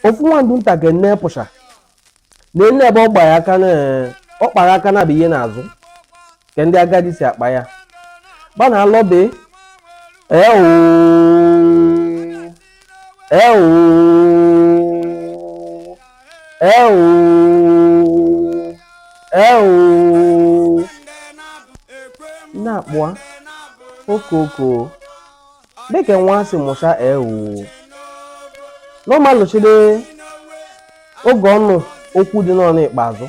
ofu nwa ndụ nta ke nne pụsha na-ene ebe ọ gba ya aka na ọ kpara aka na bụ ihe n'azụ ke ndị agadi si akpa ya gba na alọbe ee oo ee oo ee oo ee oo na-akpụa okoko dịka nwa si mụcha ewu n'ọmalụchide oge ọnụ okwu dị n'ọnụ ikpeazụ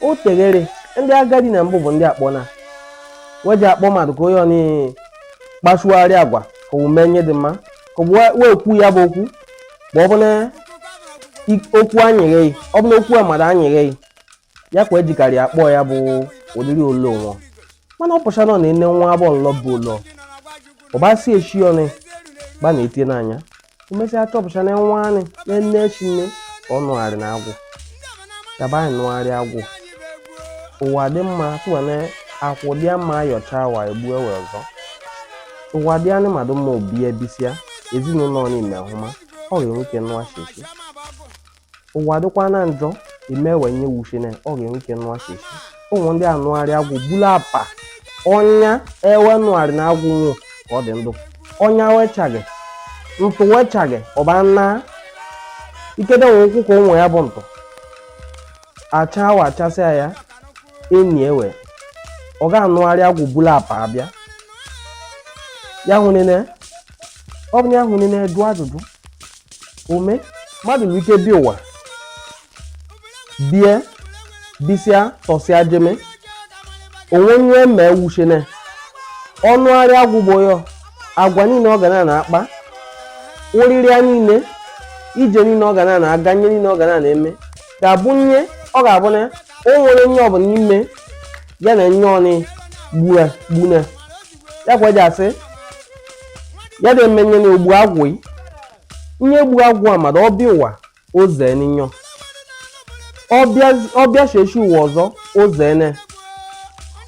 o teghere ndị agadi na mbụ bụ ndị akpọ na weji akpọ mmadụ ka onye ọnị kpachugharị agwa ka omume nye dị mma ka wee kwu ya bụ okwu ma ọ bụ na okwu anyịghị ọ bụ na okwu a mmadụ anyịghị ya kwa ejikarị akpọ ya bụ ụdịrị ole ụlọ mana ọ pụcha nọ na ene nwa abụọ nlọ bụ ụlọ ọbasi echi ọnụ gba na-etie n'anya emesịa chọpụcha na nwa anị na nne echi nne ka ọ nụgharị na agwụ yaba anyị nụgharị agwụ ụwa dị mma tụwa na akwụ dị mma ayọcha wa egbu ewe ọzọ ụwa dị anị madụ mma o bie bisịa ezinụlọ n'ime ahụ ma ọ ga-enwe ike nụwa sheshi ụwa dịkwa na njọ emewe nye wuche na ọ ga-enwe ike nụwa sheshi ụmụ ndị anụgharị agwụ bulu apa ọnya ewe nụgharị na agwụ nwụ ka ọ dị ndụ ọnya wechaghị ntụ wechaghị ọba na ikede nwe ụkwụ ka ụmụ ya bụ ntụ acha awa achasịa ya enyi ewe ọ ga-anụgharị agwụ bulu apa abịa ya hụ nene ọ bụ na ya hụ nene jụọ ajụjụ ome mmadụ nwere ike bịa ụwa bie bisịa tọsịa jeme onwe onye ma ewuchene ọ nụgharị agwụ gbo ya agwa niile ọ ga na na-akpa ụrịrịa niile ije niile ọ ga na na-aga nye niile ọ ga na na-eme ga-abụ nye ọ ga-abụ na o nwere nye ọbụla n'ime ya na nye ọnị gbune ya kwa eji asị ya dị eme nye na ogbu agwụ yi nye egbu agwụ a mmadụ ọ bịa ụwa oze ninyo ọ bịa sheshi ụwa ọzọ oze ene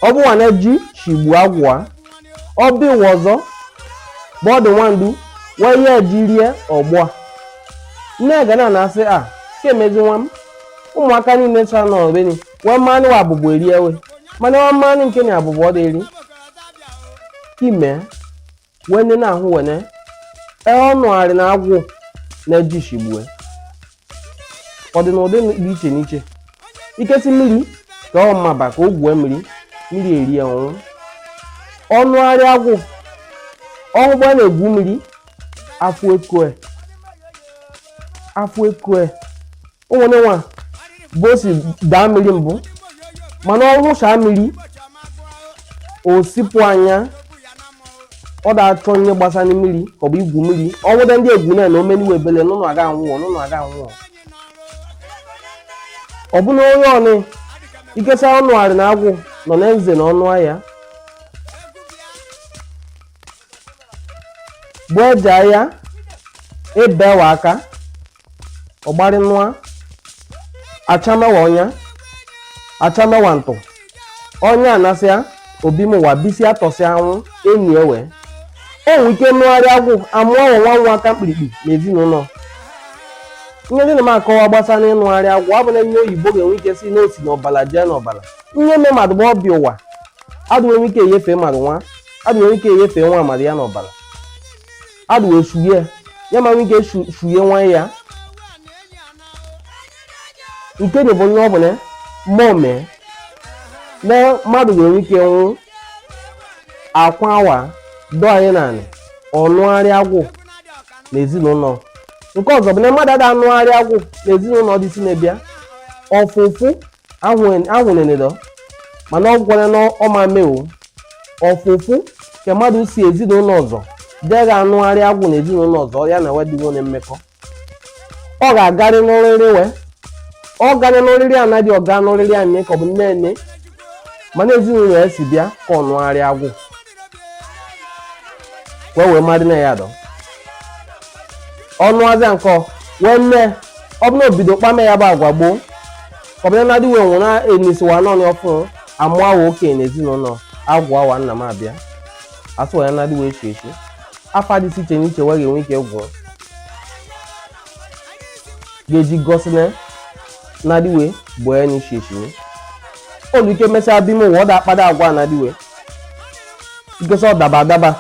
ọ bụ nwa na-eji shigbu agwụ a ọ bịa ụwa ọzọ bọọdụ nwandu wee ya eji rie ọgbọ a nne ga na-asị a ka emezi nwa m ụmụaka niile chara n'ọbeni nwa mmanụ wa abụbụ eri ewe mana nwa mmanụ nke na abụbụ ọ dịri ime wene na ahụ wene ee ọnụgharị na agwụ na ejishi gbue ọ dị n'ụdị dị iche n'iche ike si mmiri ka ọ maba ka o gwue mmiri mmiri erie ọ nwụ ọnụgharị agwụ ọhụgba na-egwu mmiri afụ ekoe afụ ekoe o nwere nwa bụ o si daa mmiri mbụ mana ọ wụchaa mmiri o sipụ anya ọ da-achọ ihe gbasara mmiri ka ọ bụ igwu mmiri ọ nwụda ndị egwu na omeniwe ebele n'ụlọ aga anwụọ ọ bụ na onye ọnị ikesa ọnụgharị na agwụ nọ na nze na ọnụ ahịa bụ eje ahịa ebewa aka ọgbari nụa achamewa ọnya achamewa ntụ ọnya anasịa obi m wa bisi atọsịa anwụ enyi ewe enwe ike nụgharị agwụ amụọ nwa nwa aka mkpirikpi na ezinụlọ ihe ndị na m akọwa gbasara ịnụgharị agwụ ọ bụ na ihe oyibo ga-enwe ike sị n'o si n'ọbala jee n'ọbala ihe eme mmadụ bụ ọbịa ụwa adụ nwere ike enyefe mmadụ nwa adụ nwere ike enyefe nwa mmadụ ya n'ọbala adụ wee shuye ya ya ma nwee ike shu- shuye nwa ya nke na bụ onye ọ bụ na mmụọ mee na mmadụ nwere ike nwụ akwa awa dọ anyị naanị ọnụgharị agwụ na ezinụlọ nke ọzọ bụ na mmadụ ada anụgharị agwụ na ezinụlọ dị si na-ebịa ọfụfụ ahụnenedo mana ọ gwara na ọma mewo ọfụfụ ka mmadụ si ezinụlọ ọzọ dee ga-anụgharị agwụ na ezinụlọ ọzọ ya na wedịwo na mmekọ ọ ga-agarị n'oriri we ọ garị n'oriri anaghị ọga n'oriri anyị ka ọ bụ nne nne mana ezinụlọ ya si bịa ka ọ nụgharị agwụ wee wee mmadụ na ya dọ ọnụ azịa nkọ wee nne ọ bụ na obido kpame ya bụ agwa gboo ọ bụ na adịwe onwe na enisiwa nọnị ọfụ amụ awa okenye na ezinụlọ agwụ awa nna m abịa asụ ya na adịwe echi echi afọ adịsị iche n'iche wee ga-enwe ike gwụọ ga-eji gosi na na adịwe bụ ya n'ichi echi olu ike mesịa bime ụwa ọ da akpada agwa na adịwe ikesa ọ daba adaba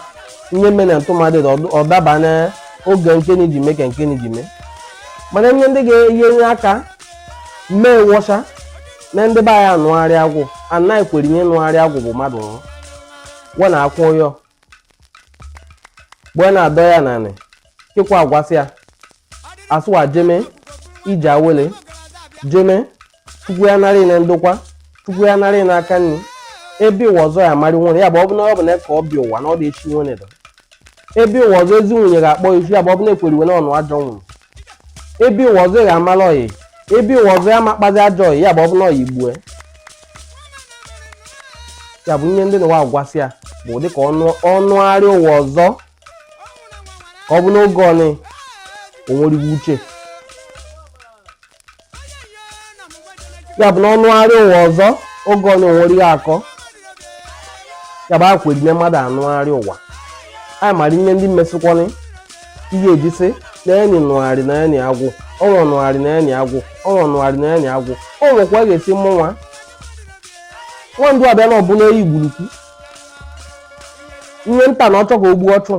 ihe mere na ntụmadị ọ daba n'oge nke na iji mee ka nke na iji mee mana ihe ndị ga-enye aka mee wọcha na ndị be anyị anụgharị agwụ anaghị kwere ihe nụgharị agwụ bụ mmadụ nwụrụ gwa na akwụ ụyọ gbe na-adọ ya nanị kịkwa agwasị ya asụwa jeme ije awele jeme chukwu ya narị na ndokwa chukwu ya narị na aka nri ebe ụwa ọzọ ya amarị nwere ya bụ ọ bụ na ka ọ bịa ụwa na ọ dị echi nwere dọ ebe ụwa ọzọ ezi nwunye ga-akpọ isu ya bụ ọ bụ na ekweriwe na ọnụ ajọ nwụrụ ebe ụwa ọzọ ga amala ọyị ebe ụwa ọzọ ya makpazi ajọ ọyị ya bụ ọ bụ na ọyị gbue ya bụ ihe ndị na ụwa gwasị ya bụ ụdị ka ọ nụgharịa ụwa ọzọ ka ọ bụ n'oge ọnị o nweriwe uche ya bụ na ọ nụgharị ụwa ọzọ oge onye nwere ihe akọ ya bụ akweri na mmadụ anụgharị ụwa anyị mara ihe ndị mesịkwanị ihe ejisi na enyi nụgharị na enyi agwụ ọnwa nụgharị na enyi agwụ ọnwa nụgharị na enyi agwụ o nwekwa ga-esi mụ nwa nwandu abịa na ọ bụ na eyi gburukwu ihe nta na ọ chọ ka ogbu ọchụ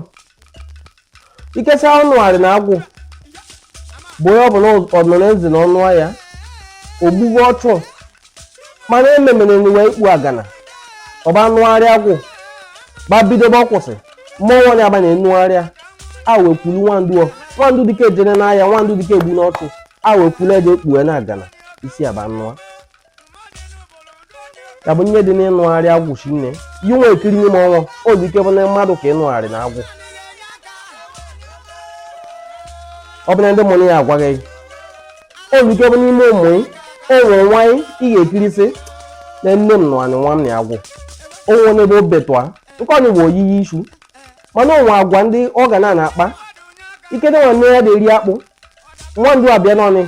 ikesa ọ nụgharị na agwụ bụ onye ọ bụ na ọ nọ na ezi na ọnụ ya ogbugbo ọchụ mana ememere n'ụwa ikpu agana ọba nụgharị agwụ ba bidobe ọ kwụsị mmụọ nwanyị abanye nnụgharịa a wee kwulu nwandu o nwandu dike ejene n'ahịa nwandu dike egbu n'ọchụ a wee kwulu eje ekpughe na agana isi aba nụa ya bụ ihe dị n'ịnụgharị agwụ chi nne yi nwa ekiri nye m ọnwa o dị ike bụ na mmadụ ka ịnụgharị na agwụ ọ bụ na ndị mụrụ ya agwaghị gị o dị ike bụ n'ime ụmụ ị o nwere nwa ị ị ga-ekirisị na nne m nụanị nwa m na agwụ o nwere n'ebe o betụa nke ọnụ bụ oyiyi isu mana o nwe agwa ndị ọ ga na-akpa ike dị nwanne ya na-eri akpụ nwandu abịa n'ọnị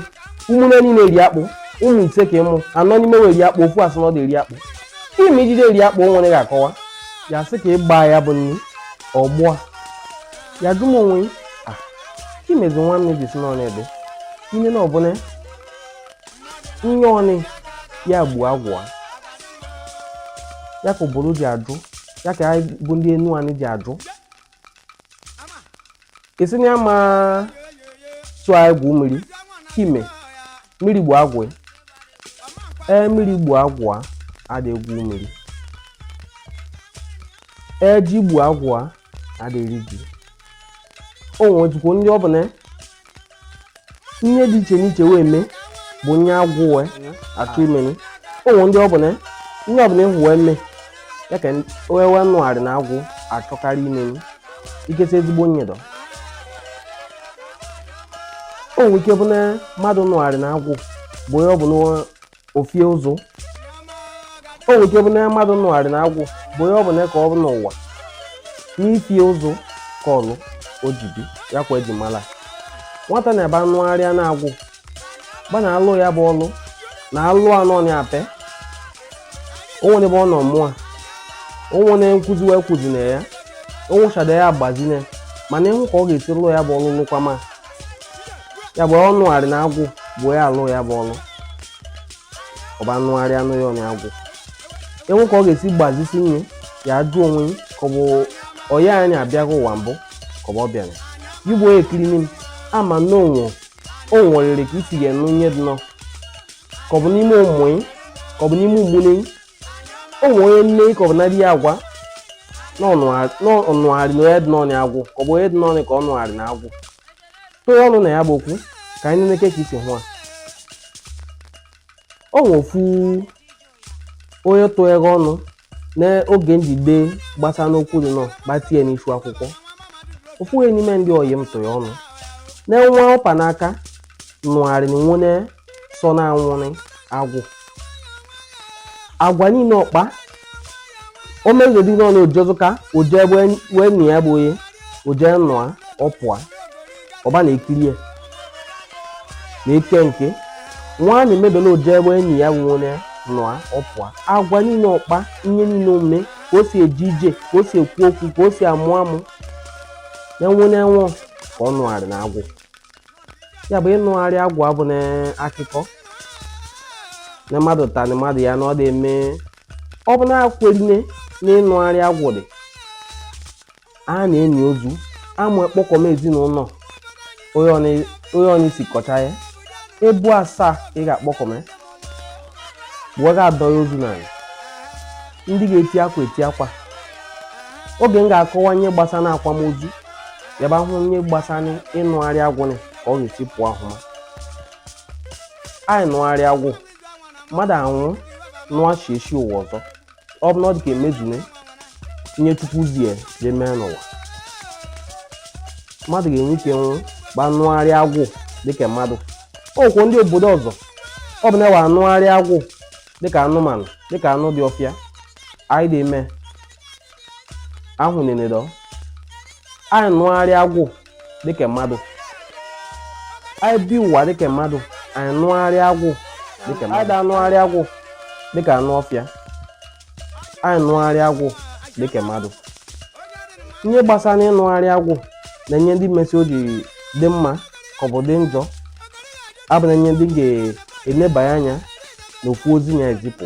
ụmụnne niile eri akpụ ụmụ ise ka ị mụ anọ n'ime we eri akpụ ofu asị na ọ dị eri akpụ ime ijide eri akpụ nwere ga-akọwa ya sị ka ịgba ya bụ nri ọgbụa ya dum onwe a imezi nwa nne ji si n'ọnị ebe ine na ọ bụ na enye ọnị ya gbuo agwụ a ya ka obodo ji ajụ ya ka anyị bụ ndị enuanị ji ajụ esi na ya ma tụọ egwu mmiri kime mmiri gbu agwụ ya ee mmiri gbu agwụ a ada egwu mmiri ee ji gbu agwụ a ada eri ji o nwezikwa ndị ọ bụ na ihe dị iche n'iche wee mee bụ nye agwụ wee achọ imeni o nwe ndị ọ bụ na ihe ọ bụ na ị hụ wee mee ya ka we wee nụgharị na agwụ achọkarị imeni ikesa ezigbo nyedo o nwere ike bụ na mmadụ nụgharị na agwụ bụ onye ọ bụ na ofie ụzụ o nwere ike bụ na mmadụ nụgharị na agwụ bụ onye ọ bụla ka ọ bụ n'ụwa n'ifie ụzụ ka ọlụ o ji bịa kwa e ji mala nwata na-ebe anụgharịa na agwụ gba na-alụ ya bụ ọlụ na-alụ anọ na ape o nwere ebe ọ nọ mụọ o nwere nkuzi wee kuzi na ya onwụchada ya agbazine mana ịhụ ka ọ ga-esi lụ ya bụ ọlụ lụkwama ya bụ ọ nụgharị na agwụ bụ ya alụ ya bụ ọlụ ọ ba anụgharị anụ ya na agwụ ịhụ ka ọ ga-esi gbazisi nye ya ajụ onwe ka ọ bụ ọya anyị abịago ụwa mbụ ka ọ bụ ọ bịara gị bụ onye ekiri n'im ama na onwe o nwerere ka isi ga-enụ nye dị nọ ka ọ bụ n'ime ụmụ ka ọ bụ n'ime ụmụnne o nwere onye nne ka ọ bụ na di ya agwa na ọ nụgharị na onye dị n'ọnụ agwụ ka ọ bụ onye dị n'ọnụ ka ọ nụgharị na agwụ tụrụ ọnụ na ya bụ okwu ka anyị nleke ka e si hụ a o nwe ofu onye tụghere ọnụ n'oge m ji de gbasa n'okwu dị nọ gbatie ya n'isu akwụkwọ ofu onye n'ime ndị oyi m tụrụ ọnụ na nwa ọ pa n'aka nụgharị na nwone sọ na anwụrị agwụ agwa niile ọ kpa o mezodi n'ọnụ ojezuka o je wee nụ ya bụ onye o je nụa ọ pụa ọ ba na-ekiri ya na ike nke nwaanyị mebele o je ebe enyi ya nwụrụ nụa ọ pụa agwa niile ọ kpa ihe niile omume ka o si eje ije ka o si ekwu okwu ka o si amụ amụ na enwe na enwe ka ọ nụgharị na agwụ ya bụ ịnụgharị agwụ abụ na akụkọ na mmadụ tani mmadụ ya na ọ dị eme ọ bụ na-akwerine na ịnụgharị agwụ dị a na-eni ozu ama kpọkọm ezinụlọ onye ọnụ isi kọcha ya ebu asaa ị ga-akpọkọm ya wee ga-adọ ya ozu n'ala ndị ga-eti akwa eti akwa oge m ga-akọwa ihe gbasara akwamozu ya bụ ahụ ihe gbasara ịnụgharị agwụ na ka ọ ga-esi pụọ ahụma anyị nụgharị agwụ mmadụ anwụ nụọ chiechi ụwa ọzọ ọ bụ na ọ dị ka emezune ihe chukwu zie jee mee n'ụwa mmadụ ga-enwe ike nwụ gba nụgharị agwụ dịka mmadụ ọkwụ ndị obodo ọzọ ọ bụ na ewe anụgharị agwụ dịka anụmanụ dịka anụ dị ọfịa anyị dị eme ahụ nenedọ anyị nụgharị agwụ dịka mmadụ anyị bi ụwa dịka mmadụ anyị nụgharị agwụ dịka mmadụ anyị da-anụgharị agwụ dịka anụ ọfịa anyị nụgharị agwụ dịka mmadụ ihe gbasara ịnụgharị agwụ na ihe ndị mesi o ji dị mma ka ọ bụ dị njọ abụ na ihe ndị ga-enebanye anya n'okwu ozi na-ezipụ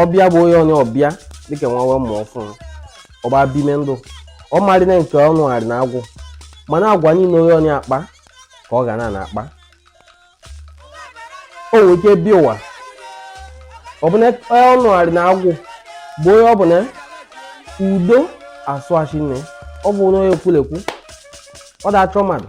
ọ bịa bụ onye onye ọ bịa dịka nwa wee mụọ ọfụrụ ọ ba bime ndụ ọ marị na nke ọ nụgharị na agwụ mana agwa niile onye onye akpa ka ọ ga na na-akpa o nwere ike bi ụwa ọ bụ na ọ nụgharị na agwụ bụ onye ọ bụ na ọ da-asụ ashị nne ọ bụ na onye ekwulekwu ọ da-achọ mmadụ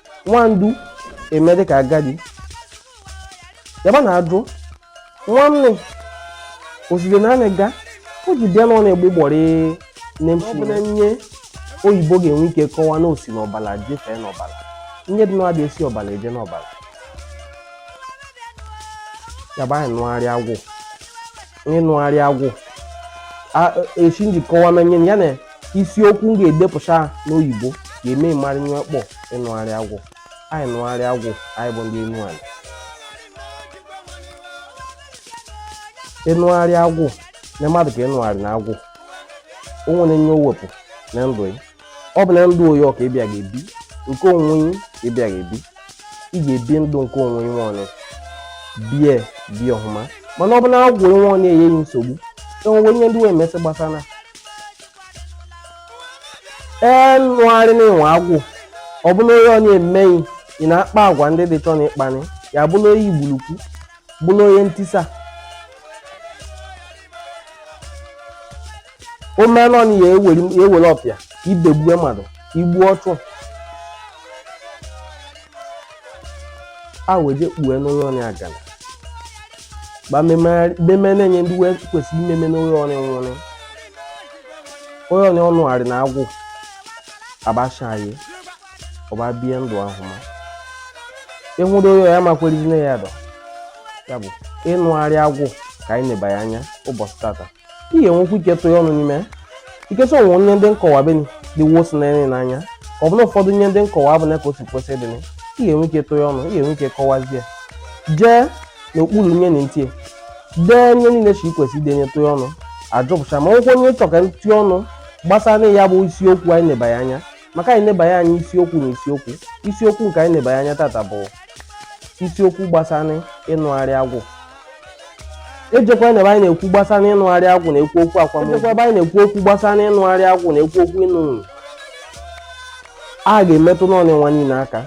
nwandu eme dịka agadi yaba na-ajụ nwanne oside na anị ga o ji bịa n'ọnụ egbe gbọrị nne m ọ bụ na ihe oyibo ga-enwe ike kọwa na o si n'ọbala jebe n'ọbala ihe dị n'ọbịa esi ọbala eje n'ọbala yaba anyị nụgharị agwụ ịnụgharị agwụ esi nji kọwa na ihe ya na isiokwu m ga-edepụta n'oyibo ga-eme ị marị ihe a kpọ ịnụgharị agwụ anyị nụgharị agwụ anyị bụ ndị Enuani ịnụgharị agwụ na mmadụ ka ịnụgharị na agwụ o nwere ihe o wepụ na ndụ ya ọ bụ na ndụ onye ọ ka ị bịa ga-ebi nke onwe ka ị bịa ga-ebi ị ga-ebi ndụ nke onwe onye ọnụ bie bi ọhụma mana ọ bụ na agwụ onwe onye enye ghị nsogbu enwewe ihe ndị wee mesị gbasara ee nụgharị na ịnwe agwụ ọ bụ na onye onye eme ghị ị na-akpa agwa ndị dị chọ na ịkpani ya bụla onye igburukwu bụla onye ntisa o mee nọ na ya ewere ọpịa ibegbue mmadụ igbu ọchụ a wee je kpue n'onye onye agana ba meme na ihe ndị wee kwesịrị imeme n'onye onye nwụrụ onye onye ọ nụgharị na agwụ abachaghị ọ ba bie ndụ ọhụma ịhụrụ onye ya makwerizi na ya dọ ya bụ ịnụgharị agwụ ka anyị nebanye anya ụbọchị tata ị ga-enwekwu ike tụnye ọnụ n'ime ya in case o nwe ihe ndị m kọwa beni dị wosi n'anya ọ bụ na ụfọdụ ihe ndị m kọwa abụ na ka o si kwesị dị ị ga-enwe ike tụnye ọnụ ị ga-enwe ike kọwazie jee n'okpuru nye na ntie dee ihe niile chi ikwesị idenye tụnye ọnụ ajụpụcha ma nwekwa ihe ị chọ ka tụnye ọnụ gbasara ya bụ isiokwu anyị nebanye anya maka anyị nebanye anya isiokwu na isiokwu isiokwu nke anyị nebanye anya tata bụ isiokwu gbasara ịnụgharị agwụ ejekwa ebe anyị na-ekwu gbasara ịnụgharị agwụ na-ekwu okwu akwamozu ejekwa ebe anyị na-ekwu okwu gbasara ịnụgharị agwụ na-ekwu okwu ịnụ nwunye a ga-emetụ n'ọnụ nwa niile aka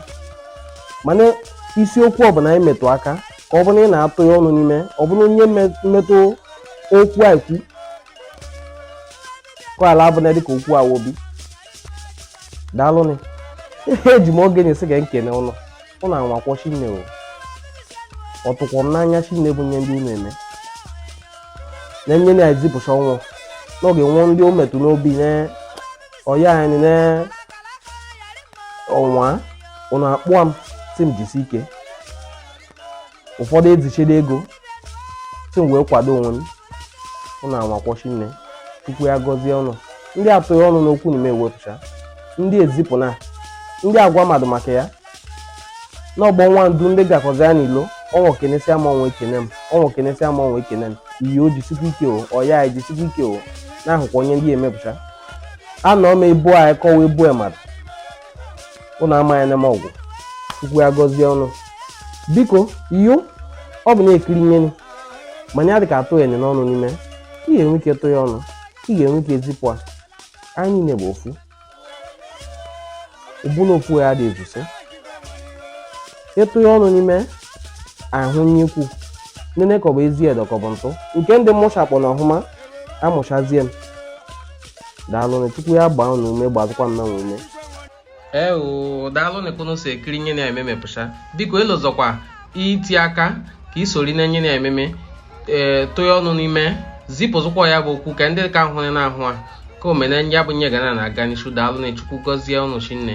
mana isiokwu ọbụla anyị metụ aka ka ọ bụ na ị na-atụ ya ọnụ n'ime ọ bụrụ onye mmetụ okwu a ekwu ka ala abụna dịka okwu awobi daalụnụ eji m oge nị sị ka m kene ụnụ ụnụ anwakwọ shinne o ọ tụkwọ m n'anya shinne bụ nye ndị ụnụ eme na nye na ezipụcha ọnwụ n'oge nwụọ ndị o metụ n'obi na ọya anyị na ọnwa ụnụ akpọa m sị m jisi ike ụfọdụ ezichede ego sị m wee kwado onwe m ụnụ anwakwọ shinne chukwu ya gọzie ụnụ ndị atụ ya ọnụ n'okwu n'ime ewepụcha ndị ezipụ na ndị agwa mmadụ maka ya n'ọgbọ nwa ndu ndị gakọzi ya n'ilo ọnwa kenesịa m ọnwa ekene m ọnwa kenesịa m ọnwa ekene m iyi o jisikwa ike o ọya anyị jisikwa ike o na-ahụkwa onye ndị emepụcha anọ m ebu anyị kọwa ebu mmadụ ụnụ amaghị anya m ọgwụ chukwu ya gọzie ụnụ biko yo ọ bụ na-ekiri nye nị mana ya dị ka atụ ya ọnụ n'ime ị ga-enwe ike tụ ya ọnụ ị ga-enwe ike zipụ a anyị niile bụ ofu ụbụla ofu ya dị ezuso ịtụ ya ọnụ n'ime ahụ nye ikwu nene ka ọ bụ ezi edo ka ọ bụ ntụ nke ndị mmụcha kpọ na ọhụma amụchazie m daalụnụ chukwu ya gbaa unu ume gbazịkwa mụ nwa ume ee oo daalụnụ ka unu si ekiri nye na eme emepụcha biko elozọkwa iti aka ka i sori na nye na ememe ee tụ ya ọnụ n'ime zipụzụkwa ya bụ okwu ka ndị ka ahụ na-ahụ ya ka o mee na ya bụ nye ga na-aga n'ishu daalụnụ chukwu gọzie unu shinne